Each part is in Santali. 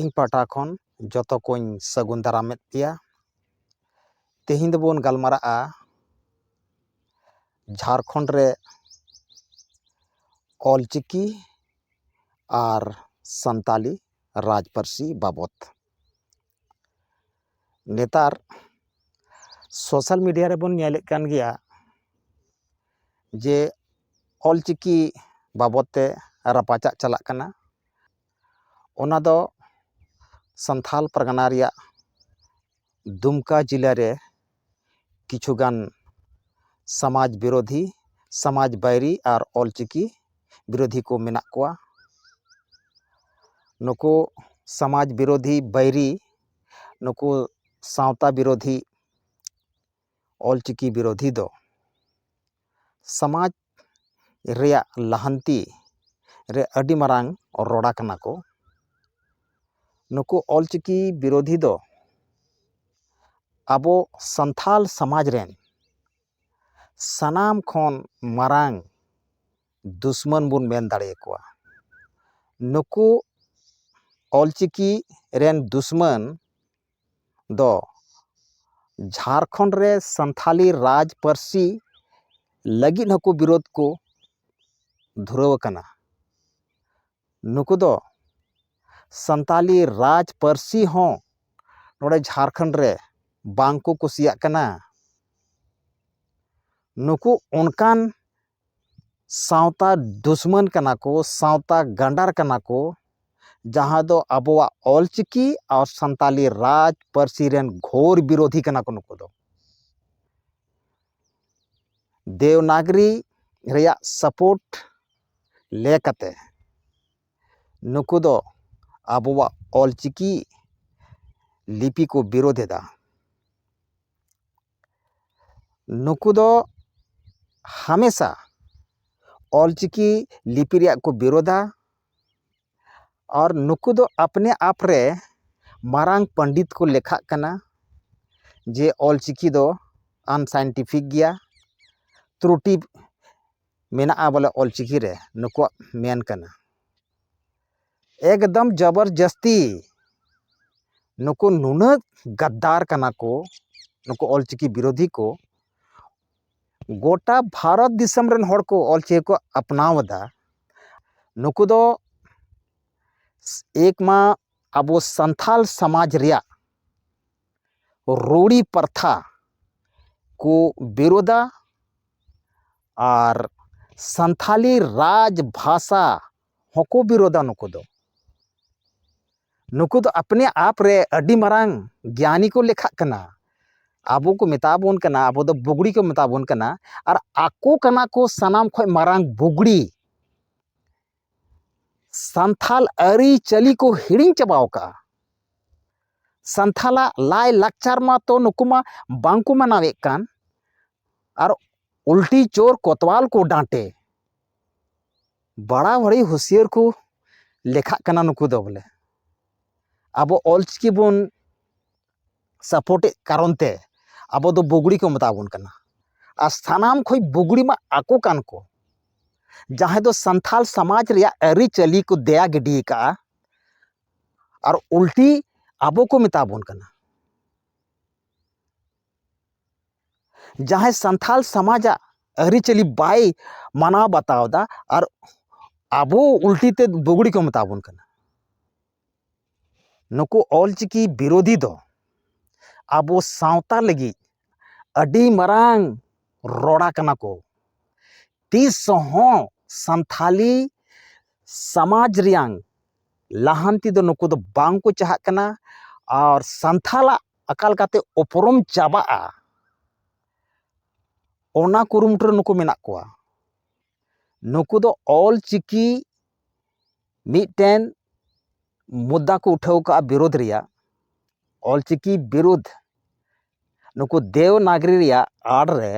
ᱤᱧ ᱯᱟᱦᱴᱟ ᱠᱷᱚᱱ ᱡᱚᱛᱚ ᱠᱚᱧ ᱥᱟᱹᱜᱩᱱ ᱫᱟᱨᱟᱢᱮᱫ ᱯᱮᱭᱟ ᱛᱮᱦᱮᱧ ᱫᱚᱵᱚᱱ ᱜᱟᱞᱢᱟᱨᱟᱜᱼᱟ ᱡᱷᱟᱲᱠᱷᱚᱸᱰ ᱨᱮ ᱚᱞ ᱪᱤᱠᱤ ᱟᱨ ᱥᱟᱱᱛᱟᱲᱤ ᱨᱟᱡᱽ ᱯᱟᱹᱨᱥᱤ ᱵᱟᱵᱚᱫ ᱱᱮᱛᱟᱨ ᱥᱳᱥᱟᱞ ᱢᱤᱰᱤᱭᱟ ᱨᱮᱵᱚᱱ ᱧᱮᱞᱮᱫ ᱠᱟᱱ ᱜᱮᱭᱟ ᱡᱮ ᱚᱞ ᱪᱤᱠᱤ ᱵᱟᱵᱚᱫ ᱛᱮ ᱨᱟᱯᱟᱪᱟᱜ ᱪᱟᱞᱟᱜ ᱠᱟᱱᱟ ᱚᱱᱟ ᱫᱚ ᱥᱟᱱᱛᱷᱟᱞ ᱯᱟᱨᱜᱟᱱᱟ ᱨᱮᱭᱟᱜ ᱫᱩᱢᱠᱟ ᱡᱮᱞᱟ ᱨᱮ ᱠᱤᱪᱷᱩ ᱜᱟᱱ ᱥᱟᱢᱟᱡᱽ ᱵᱤᱨᱳᱫᱷᱤ ᱥᱟᱢᱟᱡᱽ ᱵᱟᱹᱭᱨᱤ ᱟᱨ ᱚᱞ ᱪᱤᱠᱤ ᱵᱤᱨᱳᱫᱷᱤ ᱠᱚ ᱢᱮᱱᱟᱜ ᱠᱚᱣᱟ ᱱᱩᱠᱩ ᱥᱟᱢᱟᱡᱽ ᱵᱤᱨᱳᱫᱷᱤ ᱵᱟᱹᱭᱨᱤ ᱱᱩᱠᱩ ᱥᱟᱶᱛᱟ ᱵᱤᱨᱳᱫᱷᱤ ᱚᱞᱪᱤᱠᱤ ᱵᱤᱨᱳᱫᱷᱤ ᱫᱚ ᱥᱚᱢᱟᱡᱽ ᱨᱮᱭᱟᱜ ᱞᱟᱦᱟᱱᱛᱤ ᱨᱮ ᱟᱹᱰᱤ ᱢᱟᱨᱟᱝ ᱨᱚᱲᱟ ᱠᱟᱱᱟ ᱠᱚ ᱱᱩᱠᱩ ᱚᱞᱪᱤᱠᱤ ᱵᱤᱨᱳᱫᱷᱤ ᱫᱚ ᱟᱵᱚ ᱥᱟᱱᱛᱟᱲ ᱥᱚᱢᱟᱡᱽ ᱨᱮᱱ ᱥᱟᱱᱟᱢ ᱠᱷᱚᱱ ᱢᱟᱨᱟᱝ ᱫᱩᱥᱢᱚᱱ ᱵᱚᱱ ᱢᱮᱱ ᱫᱟᱲᱮᱭᱟᱠᱚᱣᱟ ᱱᱩᱠᱩ ᱚᱞᱪᱤᱠᱤ ᱨᱮᱱ ᱫᱩᱥᱢᱚᱱ ᱫᱚ ᱡᱷᱟᱲᱠᱷᱚᱸᱰ ᱨᱮ ᱥᱟᱱᱛᱷᱟᱞᱤ ᱨᱟᱡᱽ ᱯᱟᱹᱨᱥᱤ ᱞᱟᱹᱜᱤᱫ ᱦᱚᱸᱠᱚ ᱵᱤᱨᱳᱫᱷ ᱠᱚ ᱫᱷᱩᱨᱟᱹᱣ ᱟᱠᱟᱱᱟ ᱱᱩᱠᱩ ᱫᱚ ᱥᱟᱱᱛᱟᱞᱤ ᱨᱟᱡᱽ ᱯᱟᱹᱨᱥᱤ ᱦᱚᱸ ᱱᱚᱸᱰᱮ ᱡᱷᱟᱲᱠᱷᱚᱸᱰ ᱨᱮ ᱵᱟᱝᱠᱚ ᱠᱩᱥᱤᱭᱟᱜ ᱠᱟᱱᱟ ᱱᱩᱠᱩ ᱚᱱᱠᱟᱱ ᱥᱟᱶᱛᱟ ᱫᱩᱥᱢᱟᱹᱱ ᱠᱟᱱᱟ ᱠᱚ ᱥᱟᱶᱛᱟ ᱜᱟᱸᱰᱟᱨ ᱠᱟᱱᱟ ᱠᱚ ᱡᱟᱦᱟᱸ ᱫᱚ ᱟᱵᱚᱣᱟᱜ ᱚᱞ ᱪᱤᱠᱤ ᱟᱨ ᱥᱟᱱᱛᱟᱲᱤ ᱨᱟᱡᱽ ᱯᱟᱹᱨᱥᱤ ᱨᱮᱱ ᱜᱷᱳᱨ ᱵᱤᱨᱳᱫᱷᱤ ᱠᱟᱱᱟ ᱠᱚ ᱱᱩᱠᱩ ᱫᱚ ᱫᱮᱵᱽᱱᱟᱜᱽᱨᱤ ᱨᱮᱭᱟᱜ ᱥᱟᱯᱳᱨᱴ ᱞᱮ ᱠᱟᱛᱮ ᱱᱩᱠᱩ ᱫᱚ ᱟᱵᱚᱣᱟᱜ ᱚᱞ ᱪᱤᱠᱤ ᱞᱤᱯᱤ ᱠᱚ ᱵᱤᱨᱳᱫᱷ ᱮᱫᱟ ᱱᱩᱠᱩ ᱫᱚ ᱦᱟᱢᱮᱥᱟ ᱚᱞ ᱪᱤᱠᱤ ᱞᱤᱯᱤ ᱨᱮᱭᱟᱜ ᱠᱚ ᱵᱤᱨᱳᱫᱟ ᱟᱨ ᱱᱩᱠᱩ ᱫᱚ ᱟᱯᱱᱮ ᱟᱯ ᱨᱮ ᱢᱟᱨᱟᱝ ᱯᱚᱱᱰᱤᱛ ᱠᱚ ᱞᱮᱠᱷᱟᱜ ᱠᱟᱱᱟ ᱡᱮ ᱚᱞ ᱪᱤᱠᱤ ᱫᱚ ᱟᱱᱥᱟᱭᱮᱱᱴᱤᱯᱷᱤᱠ ᱜᱮᱭᱟ ᱛᱨᱩᱴᱤ ᱢᱮᱱᱟᱜᱼᱟ ᱵᱚᱞᱮ ᱚᱞ ᱪᱤᱠᱤ ᱨᱮ ᱱᱩᱠᱩᱣᱟᱜ ᱢᱮᱱ ᱠᱟᱱᱟ ᱮᱠᱫᱚᱢ ᱡᱚᱵᱚᱨ ᱡᱟᱹᱥᱛᱤ ᱱᱩᱠᱩ ᱱᱩᱱᱟᱹᱜ ᱜᱟᱫᱽᱫᱟᱨ ᱠᱟᱱᱟ ᱠᱚ ᱱᱩᱠᱩ ᱚᱞ ᱪᱤᱠᱤ ᱵᱤᱨᱳᱫᱷᱤ ᱠᱚ ᱜᱚᱴᱟ ᱵᱷᱟᱨᱚᱛ ᱫᱤᱥᱚᱢ ᱨᱮᱱ ᱦᱚᱲ ᱠᱚ ᱚᱞ ᱪᱤᱠᱤ ᱠᱚ ᱟᱯᱱᱟᱣ ᱮᱫᱟ ᱱᱩᱠᱩ ᱫᱚ ᱮᱠ ᱢᱟ ᱟᱵᱚ ᱥᱟᱱᱛᱟᱲ ᱥᱚᱢᱟᱡᱽ ᱨᱮᱭᱟᱜ ᱨᱩᱲᱤ ᱯᱨᱚᱛᱷᱟ ᱠᱚ ᱵᱤᱨᱳᱫᱟ ᱟᱨ ᱥᱟᱱᱛᱟᱲᱤ ᱨᱟᱡᱽ ᱵᱷᱟᱥᱟ ᱦᱚᱸᱠᱚ ᱵᱤᱨᱳᱫᱟ ᱱᱩᱠᱩ ᱫᱚ ᱱᱩᱠᱩ ᱫᱚ ᱟᱯᱱᱮ ᱟᱯ ᱨᱮ ᱟᱹᱰᱤ ᱢᱟᱨᱟᱝ ᱜᱮᱭᱟᱱᱤ ᱠᱚ ᱞᱮᱠᱷᱟᱜ ᱠᱟᱱᱟ ᱟᱵᱚ ᱠᱚ ᱢᱮᱛᱟ ᱵᱚᱱ ᱠᱟᱱᱟ ᱟᱵᱚ ᱫᱚ ᱵᱩᱜᱽᱲᱤ ᱠᱚ ᱢᱮᱛᱟ ᱵᱚᱱ ᱠᱟᱱᱟ ᱟᱨ ᱟᱠᱚ ᱠᱟᱱᱟ ᱠᱚ ᱥᱟᱱᱟᱢ ᱠᱷᱚᱱ ᱢᱟᱨᱟᱝ ᱵᱩᱜᱽᱲᱤ ᱥᱟᱱᱛᱷᱟᱞ ᱟᱹᱨᱤᱪᱟᱹᱞᱤ ᱠᱚ ᱦᱤᱲᱤᱧ ᱪᱟᱵᱟᱣ ᱠᱟᱜᱼᱟ ᱥᱟᱱᱛᱷᱟᱞᱟᱜ ᱞᱟᱭ ᱞᱟᱠᱪᱟᱨ ᱢᱟᱛᱚ ᱱᱩᱠᱩ ᱢᱟ ᱵᱟᱝᱠᱚ ᱢᱟᱱᱟᱣᱮᱫ ᱠᱟᱱ ᱟᱨ ᱩᱞᱴᱤ ᱪᱳᱨ ᱠᱚᱛᱣᱟᱞ ᱠᱚ ᱰᱟᱸᱴᱮ ᱵᱟᱲᱟ ᱵᱟᱹᱲᱤ ᱦᱩᱥᱭᱟᱹᱨ ᱠᱚ ᱞᱮᱠᱷᱟᱜ ᱠᱟᱱᱟ ᱱᱩᱠᱩ ᱫᱚ ᱵᱚᱞᱮ ᱟᱵᱚ ᱚᱞ ᱪᱤᱠᱤ ᱵᱚᱱ ᱥᱟᱯᱳᱨᱴᱮᱫ ᱠᱟᱨᱚᱱ ᱛᱮ ᱟᱵᱚ ᱫᱚ ᱵᱩᱜᱽᱲᱤ ᱠᱚ ᱢᱮᱛᱟ ᱵᱚᱱ ᱠᱟᱱᱟ ᱟᱨ ᱥᱟᱱᱟᱢ ᱠᱷᱚᱱ ᱵᱩᱜᱽᱲᱤ ᱢᱟ ᱟᱠᱚ ᱠᱟᱱ ᱠᱚ ᱡᱟᱦᱟᱸᱭ ᱫᱚ ᱥᱟᱱᱛᱟᱲ ᱥᱚᱢᱟᱡᱽ ᱨᱮᱭᱟᱜ ᱟᱹᱨᱤᱪᱟᱹᱞᱤ ᱠᱚ ᱫᱮᱭᱟ ᱜᱤᱰᱤ ᱟᱠᱟᱫᱼᱟ ᱟᱨ ᱩᱞᱴᱤ ᱟᱵᱚ ᱠᱚ ᱢᱮᱛᱟ ᱵᱚᱱ ᱠᱟᱱᱟ ᱡᱟᱦᱟᱸᱭ ᱥᱟᱱᱛᱟᱲ ᱥᱚᱢᱟᱡᱟᱜ ᱟᱹᱨᱤᱪᱟᱹᱞᱤ ᱵᱟᱭ ᱢᱟᱱᱟᱣ ᱵᱟᱛᱟᱣ ᱮᱫᱟ ᱟᱨ ᱟᱵᱚ ᱩᱞᱴᱤ ᱛᱮ ᱵᱩᱜᱽᱲᱤ ᱠᱚ ᱢᱮᱛᱟ ᱵᱚᱱ ᱠᱟᱱᱟ ᱱᱩᱠᱩ ᱚᱞ ᱪᱤᱠᱤ ᱵᱤᱨᱳᱫᱷᱤ ᱫᱚ ᱟᱵᱚ ᱥᱟᱶᱛᱟ ᱞᱟᱹᱜᱤᱫ ᱟᱹᱰᱤ ᱢᱟᱨᱟᱝ ᱨᱚᱲᱟ ᱠᱟᱱᱟ ᱠᱚ ᱛᱤᱥ ᱦᱚᱸ ᱥᱟᱱᱛᱟᱲᱤ ᱥᱚᱢᱟᱡᱽ ᱨᱮᱭᱟᱝ ᱞᱟᱦᱟᱱᱛᱤ ᱫᱚ ᱱᱩᱠᱩ ᱫᱚ ᱵᱟᱝ ᱠᱚ ᱪᱟᱦᱟᱜ ᱠᱟᱱᱟ ᱟᱨ ᱥᱟᱱᱛᱟᱲᱟᱜ ᱟᱠᱟ ᱞᱮᱠᱟᱛᱮ ᱩᱯᱨᱩᱢ ᱪᱟᱵᱟᱜᱼᱟ ᱚᱱᱟ ᱠᱩᱨᱩᱢᱩᱴᱩ ᱨᱮ ᱱᱩᱠᱩ ᱢᱮᱱᱟᱜ ᱠᱚᱣᱟ ᱱᱩᱠᱩ ᱫᱚ ᱚᱞ ᱪᱤᱠᱤ ᱢᱤᱫᱴᱮᱱ ᱢᱩᱫᱽᱫᱟ ᱠᱚ ᱩᱴᱷᱟᱹᱣ ᱠᱟᱜᱼᱟ ᱵᱤᱨᱳᱫᱷ ᱨᱮᱭᱟᱜ ᱚᱞ ᱪᱤᱠᱤ ᱵᱤᱨᱩᱫᱷ ᱱᱩᱠᱩ ᱫᱮᱣ ᱱᱟᱜᱽᱨᱤ ᱨᱮᱭᱟᱜ ᱟᱲ ᱨᱮ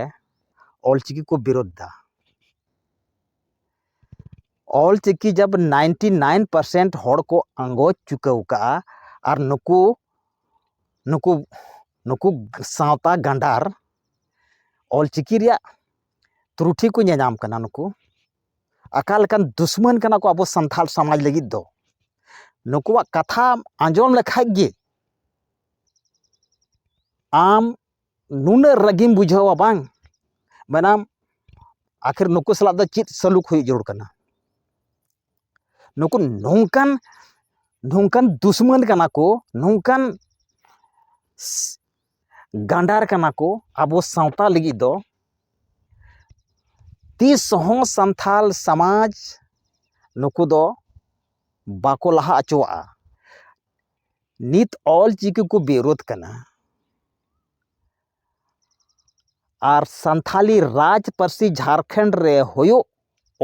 ᱚᱞ ᱪᱤᱠᱤ ᱠᱚ ᱵᱤᱨᱳᱫᱷ ᱫᱟ ᱚᱞ ᱪᱤᱠᱤ ᱡᱟᱵᱽ ᱱᱟᱭᱤᱱᱴᱤ ᱱᱟᱭᱤᱱ ᱯᱟᱨᱥᱮᱱᱴ ᱦᱚᱲ ᱠᱚ ᱟᱸᱜᱚᱪ ᱪᱩᱠᱟᱹᱣ ᱠᱟᱜᱼᱟ ᱟᱨ ᱱᱩᱠᱩ ᱱᱩᱠᱩ ᱱᱩᱠᱩ ᱥᱟᱶᱛᱟ ᱜᱟᱸᱰᱟᱨ ᱚᱞ ᱪᱤᱠᱤ ᱨᱮᱭᱟᱜ ᱛᱨᱩᱴᱷᱤ ᱠᱚ ᱧᱮᱞ ᱧᱟᱢ ᱠᱟᱱᱟ ᱱᱩᱠᱩ ᱟᱠᱟ ᱞᱮᱠᱟᱱ ᱫᱩᱥᱢᱟᱹᱱ ᱠᱟᱱᱟ ᱠᱚ ᱟᱵᱚ ᱥᱟᱱᱛᱟᱲ ᱥᱚᱢᱟᱡᱽ ᱞᱟᱹᱜᱤᱫ ᱫᱚ ᱱᱩᱠᱩᱣᱟᱜ ᱠᱟᱛᱷᱟᱢ ᱟᱸᱡᱚᱢ ᱞᱮᱠᱷᱟᱡ ᱜᱮ ᱟᱢ ᱱᱩᱱᱟᱹᱜ ᱨᱟᱹᱜᱤᱢ ᱵᱩᱡᱷᱟᱹᱣᱟ ᱵᱟᱝ ᱢᱮᱱᱟᱢ ᱟᱹᱠᱷᱤᱨ ᱱᱩᱠᱩ ᱥᱟᱞᱟᱜ ᱫᱚ ᱪᱮᱫ ᱥᱟᱹᱞᱩᱠ ᱦᱩᱭᱩᱜ ᱡᱟᱹᱨᱩᱲ ᱠᱟᱱᱟ ᱱᱩᱠᱩ ᱱᱚᱝᱠᱟᱱ ᱱᱚᱝᱠᱟᱱ ᱫᱩᱥᱢᱟᱹᱱ ᱠᱟᱱᱟ ᱠᱚ ᱱᱚᱝᱠᱟᱱ ᱜᱟᱱᱰᱟᱨ ᱠᱟᱱᱟ ᱠᱚ ᱟᱵᱚ ᱥᱟᱶᱛᱟ ᱞᱟᱹᱜᱤᱫ ᱫᱚ ᱛᱤᱥ ᱦᱚᱸ ᱥᱟᱱᱛᱟᱲ ᱥᱚᱢᱟᱡᱽ ᱱᱩᱠᱩ ᱫᱚ ᱵᱟᱠᱚ ᱞᱟᱦᱟ ᱦᱚᱪᱚᱣᱟᱜᱼᱟ ᱱᱤᱛ ᱚᱞ ᱪᱤᱠᱤ ᱠᱚ ᱵᱤᱨᱳᱫᱷ ᱠᱟᱱᱟ ᱟᱨ ᱥᱟᱱᱛᱷᱟᱞᱤ ᱨᱟᱡᱽ ᱯᱟᱹᱨᱥᱤ ᱡᱷᱟᱲᱠᱷᱚᱸᱰ ᱨᱮ ᱦᱩᱭᱩᱜ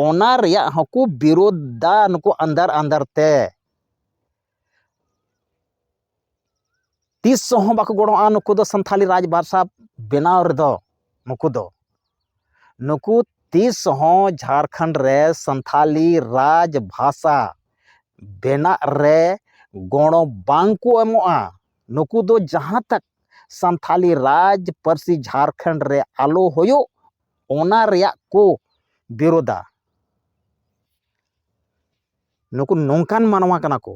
ᱚᱱᱟ ᱨᱮᱭᱟᱜ ᱦᱚᱸᱠᱚ ᱵᱤᱨᱳᱫᱷ ᱫᱟ ᱱᱩᱠᱩ ᱟᱱᱫᱷᱟᱨ ᱟᱱᱫᱷᱟᱨ ᱛᱮ ᱛᱤᱥ ᱦᱚᱸ ᱵᱟᱠᱚ ᱜᱚᱲᱚᱜᱼᱟ ᱱᱩᱠᱩ ᱫᱚ ᱥᱟᱱᱛᱷᱟᱞᱤ ᱨᱟᱡᱽ ᱵᱷᱟᱥᱟ ᱵᱮᱱᱟᱣ ᱨᱮᱫᱚ ᱱᱩᱠᱩ ᱫᱚ ᱱᱩᱠᱩ ᱛᱤᱥ ᱦᱚᱸ ᱡᱷᱟᱨᱠᱷᱚᱸᱰ ᱨᱮ ᱥᱟᱱᱛᱷᱟᱞᱤ ᱨᱟᱡᱽ ᱵᱷᱟᱥᱟ ᱵᱮᱱᱟᱜ ᱨᱮ ᱜᱚᱲᱚ ᱵᱟᱝ ᱠᱚ ᱮᱢᱚᱜᱼᱟ ᱱᱩᱠᱩ ᱫᱚ ᱡᱟᱦᱟᱸ ᱛᱟᱠ ᱥᱟᱱᱛᱷᱟᱞᱤ ᱨᱟᱡᱽ ᱯᱟᱹᱨᱥᱤ ᱡᱷᱟᱨᱠᱷᱚᱸᱰ ᱨᱮ ᱟᱞᱚ ᱦᱩᱭᱩᱜ ᱚᱱᱟ ᱨᱮᱭᱟᱜ ᱠᱚ ᱵᱤᱨᱳᱫᱟ ᱱᱩᱠᱩ ᱱᱚᱝᱠᱟᱱ ᱢᱟᱱᱣᱟ ᱠᱟᱱᱟ ᱠᱚ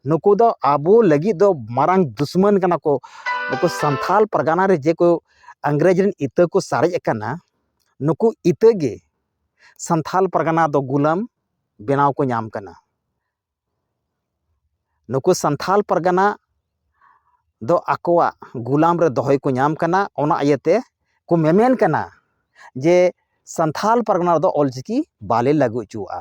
ᱱᱩᱠᱩ ᱫᱚ ᱟᱵᱚ ᱞᱟᱹᱜᱤᱫ ᱫᱚ ᱢᱟᱨᱟᱝ ᱫᱩᱥᱢᱟᱹᱱ ᱠᱟᱱᱟ ᱠᱚ ᱱᱩᱠᱩ ᱥᱟᱱᱛᱷᱟᱞ ᱯᱟᱨᱜᱟᱱᱟ ᱨᱮ ᱡᱮ ᱠᱚ ᱤᱝᱨᱮᱡᱽ ᱨᱮᱱ ᱤᱛᱟᱹ ᱠᱚ ᱥᱟᱨᱮᱡ ᱟᱠᱟᱱᱟ ᱱᱩᱠᱩ ᱤᱛᱟᱹ ᱜᱮ ᱥᱟᱱᱛᱷᱟᱞ ᱯᱟᱨᱜᱟᱱᱟ ᱫᱚ ᱜᱩᱞᱟᱹᱢ ᱵᱮᱱᱟᱣ ᱠᱚ ᱧᱟᱢ ᱠᱟᱱᱟ ᱱᱩᱠᱩ ᱥᱟᱱᱛᱷᱟᱞ ᱯᱟᱨᱜᱟᱱᱟ ᱫᱚ ᱟᱠᱚᱣᱟᱜ ᱜᱩᱞᱟᱢ ᱨᱮ ᱫᱚᱦᱚᱭ ᱠᱚ ᱧᱟᱢ ᱠᱟᱱᱟ ᱚᱱᱟ ᱤᱭᱟᱹᱛᱮ ᱠᱚ ᱢᱮᱢᱮᱱ ᱠᱟᱱᱟ ᱡᱮ ᱥᱟᱱᱛᱷᱟᱞ ᱯᱟᱨᱜᱟᱱᱟ ᱨᱮᱫᱚ ᱚᱞᱪᱤᱠᱤ ᱵᱟᱞᱮ ᱞᱟᱹᱜᱩ ᱦᱚᱪᱚᱣᱟᱜᱼᱟ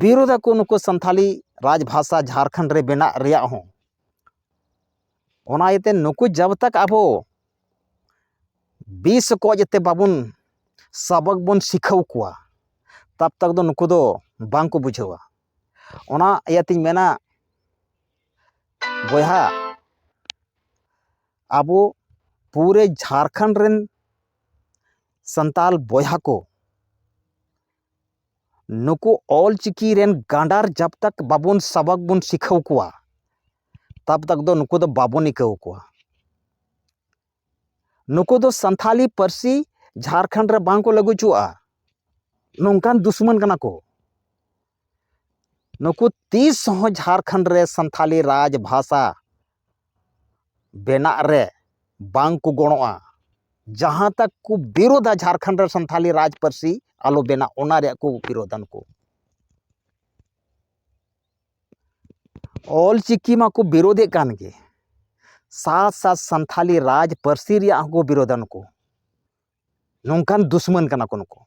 ᱵᱤᱨᱳᱫᱷ ᱟᱠᱚ ᱱᱩᱠᱩ ᱥᱟᱱᱛᱷᱟᱞᱤ ᱨᱟᱡᱽ ᱵᱷᱟᱥᱟ ᱡᱷᱟᱲᱠᱷᱚᱸᱰ ᱨᱮ ᱵᱮᱱᱟᱜ ᱨᱮᱭᱟᱜ ᱦᱚᱸ ᱚᱱᱟ ᱤᱭᱟᱹᱛᱮ ᱱᱩᱠᱩ ᱡᱟᱵᱽ ᱛᱚᱠ ᱟᱵᱚ ᱵᱤᱥ ᱠᱚ ᱡᱟᱛᱮ ᱵᱟᱵᱚᱱ ᱥᱟᱵᱚᱠ ᱵᱚᱱ ᱥᱤᱠᱷᱟᱹᱣ ᱠᱚᱣᱟ ᱛᱟᱵᱽ ᱛᱚᱠ ᱫᱚ ᱱᱩᱠᱩ ᱫᱚ ᱵᱟᱝᱠᱚ ᱵᱩᱡᱷᱟᱹᱣᱟ ᱚᱱᱟ ᱤᱭᱟᱹᱛᱤᱧ ᱢᱮᱱᱟ ᱵᱚᱭᱦᱟ ᱟᱵᱚ ᱯᱩᱨᱟᱹ ᱡᱷᱟᱲᱠᱷᱚᱸᱰ ᱨᱮᱱ ᱥᱟᱱᱛᱟᱞ ᱵᱚᱭᱦᱟ ᱠᱚ ᱱᱩᱠᱩ ᱚᱞ ᱪᱤᱠᱤ ᱨᱮᱱ ᱜᱟᱸᱰᱟᱨ ᱡᱟᱵᱽ ᱛᱟᱠ ᱵᱟᱵᱚᱱ ᱥᱟᱵᱟᱠ ᱵᱚᱱ ᱥᱤᱠᱷᱟᱹᱣ ᱠᱚᱣᱟ ᱛᱟᱵᱽ ᱛᱟᱠ ᱫᱚ ᱱᱩᱠᱩ ᱫᱚ ᱵᱟᱵᱚᱱ ᱤᱠᱟᱹᱣ ᱠᱚᱣᱟ ᱱᱩᱠᱩ ᱫᱚ ᱥᱟᱱᱛᱷᱟᱞᱤ ᱯᱟᱹᱨᱥᱤ ᱡᱷᱟᱲᱠᱷᱚᱸᱰ ᱨᱮ ᱵᱟᱝ ᱠᱚ ᱞᱟᱹᱜᱩ ᱦᱚᱪᱚᱣᱟᱜᱼᱟ ᱱᱚᱝᱠᱟᱱ ᱫᱩᱥᱢᱚᱱ ᱠᱟᱱᱟ ᱠᱚ ᱱᱩᱠᱩ ᱛᱤᱥ ᱦᱚᱸ ᱡᱷᱟᱲᱠᱷᱚᱸᱰ ᱨᱮ ᱥᱟᱱᱛᱷᱟᱞᱤ ᱨᱟᱡᱽ ᱵᱷᱟᱥᱟ ᱵᱮᱱᱟᱜ ᱨᱮ ᱵᱟᱝ ᱠᱚ ᱜᱚᱲᱚᱜᱼᱟ ᱡᱟᱦᱟᱸ ᱛᱟᱠ ᱠᱚ ᱵᱤᱨᱳᱫᱟ ᱡᱷᱟᱲᱠᱷᱚᱸᱰ ᱨᱮ ᱥᱟᱱᱛᱟᱲᱤ ᱨᱟᱡᱽ ᱯᱟᱹᱨᱥᱤ ᱟᱞᱚ ᱵᱮᱱᱟᱜ ᱚᱱᱟ ᱨᱮᱭᱟᱜ ᱠᱚ ᱵᱤᱨᱳᱫᱟ ᱱᱩᱠᱩ ᱚᱞ ᱪᱤᱠᱤ ᱢᱟᱠᱚ ᱵᱤᱨᱳᱫᱮᱫ ᱠᱟᱱ ᱜᱮ ᱥᱟᱛ ᱥᱟᱛ ᱥᱟᱱᱛᱟᱲᱤ ᱨᱟᱡᱽ ᱯᱟᱹᱨᱥᱤ ᱨᱮᱭᱟᱜ ᱦᱚᱸᱠᱚ ᱵᱤᱨᱳᱫᱟ ᱱᱩᱠᱩ ᱱᱚᱝᱠᱟᱱ ᱫᱩᱥᱢᱟᱹᱱ ᱠᱟᱱᱟ ᱠᱚ ᱱᱩᱠᱩ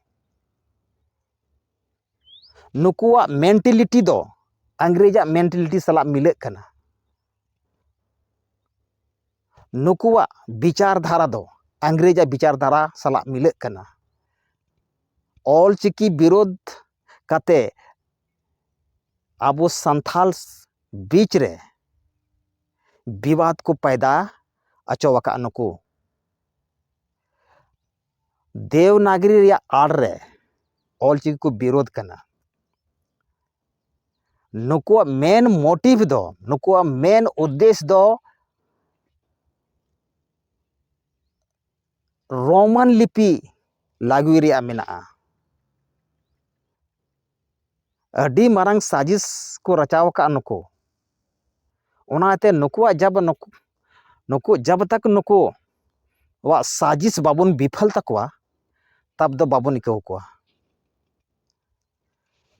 ᱱᱩᱠᱩᱣᱟᱜ ᱢᱮᱱᱴᱮᱞᱤᱴᱤ ᱫᱚ ᱤᱝᱨᱮᱡᱟᱜ ᱢᱮᱱᱴᱮᱞᱤᱴᱤ ᱥᱟᱞᱟᱜ ᱢᱤᱞᱟᱹᱜ ᱠᱟᱱᱟ ᱱᱩᱠᱩᱣᱟᱜ ᱵᱤᱪᱟᱨ ᱫᱷᱟᱨᱟ ᱫᱚ ᱤᱝᱨᱮᱡᱟᱜ ᱵᱤᱪᱟᱨ ᱫᱷᱟᱨᱟ ᱥᱟᱞᱟᱜ ᱢᱤᱞᱟᱹᱜ ᱠᱟᱱᱟ ᱚᱞ ᱪᱤᱠᱤ ᱵᱤᱨᱳᱫᱷ ᱠᱟᱛᱮ ᱟᱵᱚ ᱥᱟᱱᱛᱷᱟᱞ ᱵᱤᱪ ᱨᱮ ᱵᱤᱵᱟᱫ ᱠᱚ ᱯᱟᱭᱫᱟ ᱟᱪᱚᱣᱟᱠᱟᱜᱼᱟ ᱱᱩᱠᱩ ᱫᱮᱣᱱᱟᱜᱽᱨᱤ ᱨᱮᱭᱟᱜ ᱟᱲ ᱨᱮ ᱚᱞ ᱪᱤᱠᱤ ᱠᱚ ᱵᱤᱨᱳᱫᱷ ᱠᱟᱱᱟ ᱱᱩᱠᱩᱣᱟᱜ ᱢᱮᱱ ᱢᱳᱴᱤᱵᱷ ᱫᱚ ᱱᱩᱠᱩᱣᱟᱜ ᱢᱮᱱ ᱩᱫᱽᱫᱮᱥ ᱫᱚ ᱨᱳᱢᱟᱱ ᱞᱤᱯᱤ ᱞᱟᱹᱜᱩᱭ ᱨᱮᱭᱟᱜ ᱢᱮᱱᱟᱜᱼᱟ ᱟᱹᱰᱤ ᱢᱟᱨᱟᱝ ᱥᱟᱡᱤᱥ ᱠᱚ ᱨᱟᱪᱟᱣ ᱟᱠᱟᱫᱼᱟ ᱱᱩᱠᱩ ᱚᱱᱟᱛᱮ ᱱᱩᱠᱩᱣᱟᱜ ᱡᱟᱵᱽ ᱱᱩᱠᱩ ᱱᱩᱠᱩ ᱡᱟᱵᱽ ᱛᱟᱠ ᱱᱩᱠᱩ ᱣᱟᱜ ᱥᱟᱡᱤᱥ ᱵᱟᱵᱚᱱ ᱵᱤᱯᱷᱚᱞ ᱛᱟᱠᱚᱣᱟ ᱛᱟᱵᱽ ᱫᱚ ᱵᱟᱵᱚᱱ ᱤᱠᱟᱹᱣ ᱠᱚᱣᱟ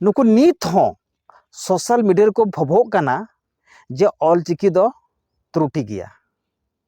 ᱱᱩᱠᱩ ᱱᱤᱛ ᱦᱚᱸ ᱥᱳᱥᱟᱞ ᱢᱤᱰᱤᱭᱟ ᱨᱮᱠᱚ ᱵᱷᱚᱵᱷᱚᱜ ᱠᱟᱱᱟ ᱡᱮ ᱚᱞᱪᱤᱠᱤ ᱫᱚ ᱛᱨᱩᱴᱤ ᱜᱮᱭᱟ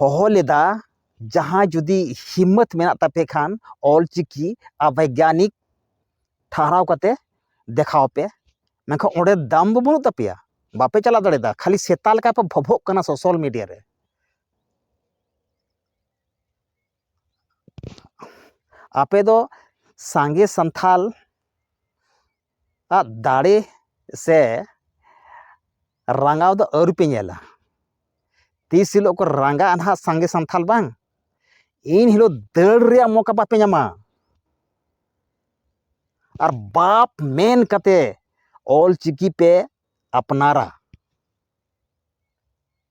ᱦᱚᱦᱚ ᱞᱮᱫᱟ ᱡᱟᱦᱟᱸᱭ ᱡᱩᱫᱤ ᱦᱤᱢᱢᱟᱹᱛ ᱢᱮᱱᱟᱜ ᱛᱟᱯᱮ ᱠᱷᱟᱱ ᱚᱞ ᱪᱤᱠᱤ ᱟᱨ ᱵᱳᱭᱜᱟᱱᱤᱠ ᱴᱷᱟᱶ ᱠᱟᱛᱮ ᱫᱮᱠᱷᱟᱣ ᱯᱮ ᱢᱮᱱᱠᱷᱟᱱ ᱚᱸᱰᱮ ᱫᱟᱢ ᱫᱚ ᱵᱟᱹᱱᱩᱜ ᱛᱟᱯᱮᱭᱟ ᱵᱟᱯᱮ ᱪᱟᱞᱟᱣ ᱫᱟᱲᱮᱭᱟᱫᱟ ᱠᱷᱟᱹᱞᱤ ᱥᱮᱛᱟ ᱞᱮᱠᱟ ᱯᱮ ᱵᱷᱚᱵᱷᱚᱜ ᱠᱟᱱᱟ ᱥᱳᱥᱟᱞ ᱢᱤᱰᱤᱭᱟ ᱨᱮ ᱟᱯᱮ ᱫᱚ ᱥᱟᱸᱜᱮ ᱥᱟᱱᱛᱷᱟᱞ ᱟᱜ ᱫᱟᱲᱮ ᱥᱮ ᱨᱟᱸᱜᱟᱣ ᱫᱚ ᱟᱹᱣᱨᱤ ᱯᱮ ᱧᱮᱞᱟ ᱛᱤᱥ ᱦᱤᱞᱳᱜ ᱠᱚ ᱨᱟᱸᱜᱟᱜᱼᱟ ᱱᱟᱦᱟᱜ ᱥᱟᱸᱜᱮ ᱥᱟᱱᱛᱟᱲ ᱵᱟᱝ ᱤᱱ ᱦᱤᱞᱳᱜ ᱫᱟᱹᱲ ᱨᱮᱭᱟᱜ ᱢᱚᱠᱟ ᱵᱟᱯᱮ ᱧᱟᱢᱟ ᱟᱨ ᱵᱟᱯ ᱢᱮᱱ ᱠᱟᱛᱮ ᱚᱞ ᱪᱤᱠᱤ ᱯᱮ ᱟᱯᱱᱟᱨᱟ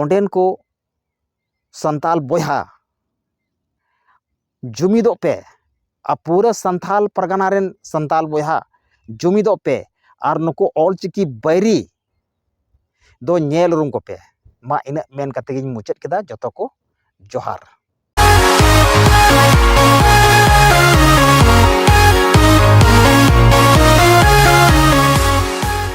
ᱚᱸᱰᱮᱱ ᱠᱚ ᱥᱟᱱᱛᱟᱲ ᱵᱚᱭᱦᱟ ᱡᱩᱢᱤᱫᱚᱜ ᱯᱮ ᱟᱨ ᱯᱩᱨᱟᱹ ᱥᱟᱱᱛᱟᱲ ᱯᱟᱨᱜᱟᱱᱟ ᱨᱮᱱ ᱥᱟᱱᱛᱟᱲ ᱵᱚᱭᱦᱟ ᱡᱩᱢᱤᱫᱚᱜ ᱯᱮ ᱟᱨ ᱱᱩᱠᱩ ᱚᱞ ᱪᱤᱠᱤ ᱵᱟᱹᱭᱨᱤ ᱫᱚ ᱧᱮᱞ ᱩᱨᱩᱢ ᱠᱚᱯᱮ ᱢᱟ ᱤᱱᱟᱹᱜ ᱢᱮᱱ ᱠᱟᱛᱮ ᱜᱤᱧ ᱢᱩᱪᱟᱹᱫ ᱠᱮᱫᱟ ᱡᱚᱛᱚ ᱠᱚ ᱡᱚᱦᱟᱨ